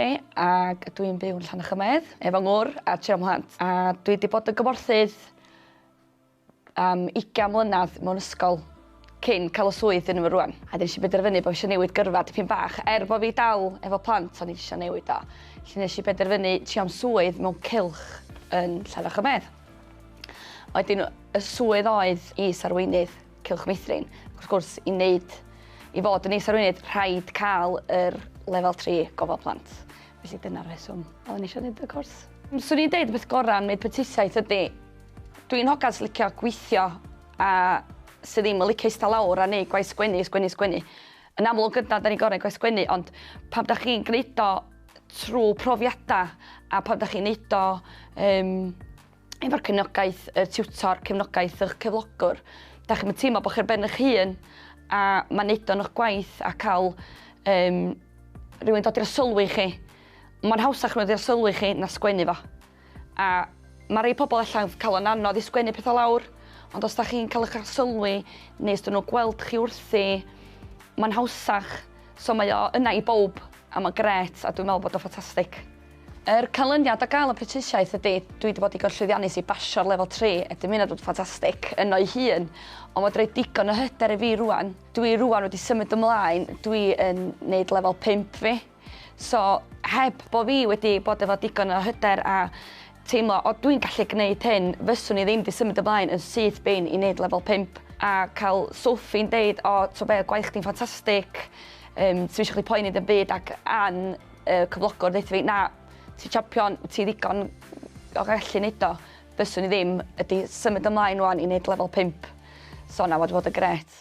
Lee ag dw i'n byw yn Llanachymaedd efo ngwr a tri o mhlant a dwi 'di bod yn gymorthydd am ugian mlynadd mewn ysgol cyn ca'l y swydd dwi yn efo rŵan a nesh i benderfynu bo' fi isio newid gyrfa dipyn bach er bo' fi dal efo plant o'n i isio newid o. Felly nesh i benderfynu trio am swydd mewn cylch yn Llanachymaedd. A wedyn y swydd oedd is-arweinydd Cylch Meithrin. Wrth gwrs, i wneud, i fod yn is-arweinydd, rhaid cael yr lefel 3 gofal plant. Felly dyna'r rheswm oeddwn i eisiau gwneud y cwrs. Swn i'n deud y peth gorau am wneud prentisiaeth ydy, dwi'n hogan sy'n licio gweithio a sydd ddim yn licio eistedd lawr a neud gwaith sgwennu, sgwennu, sgwennu. Yn amlwg yna, da ni'n gorau gwaith sgwennu, ond pam da chi'n gwneud o trwy profiadau a pam da chi'n neud o um, efo'r cefnogaeth y tiwtor, cefnogaeth ych cyflogwr. Da chi'n teimlo bod chi'r ben eich hun a mae'n neud o'n eich gwaith a cael um, rhywun dod i'r sylwi chi. Mae'n hawsach nhw i'r sylwi chi na sgwennu fo. A mae rhai pobl allan cael o'n anodd i sgwennu pethau lawr, ond os da chi'n cael eich sylwi neu os dyn nhw gweld chi wrthi, mae'n hawsach. So mae o yna i bob a mae'n gret a dwi'n meddwl bod o'n ffantastig. Yr canlyniad o gael y prentisiaeth ydy, dwi wedi bod digon llwyddiannus i basio'r lefel 3, a dim hynna bod ffantastig yno'i hun, ond mae rhoi digon o hyder i fi rwan. Dwi rwan wedi symud ymlaen, dwi yn neud lefel 5 fi, so heb bod fi wedi bod efo digon o hyder a teimlo o dwi'n gallu gneud hyn, fyswn i ddim di symud ymlaen yn syth bin i neud lefel 5, a cael Sophie'n deud o t'o be' gwaith chdi'n ffantastig, yym sdim isio chdi poeni ddim byd ac Ann y cyflogwr ddeitha fi, na, ti champion, ti ddigon o gallu neud o. Fyswn i ddim, ydy symud ymlaen wan i neud lefel 5. So na, wedi bod yn gret.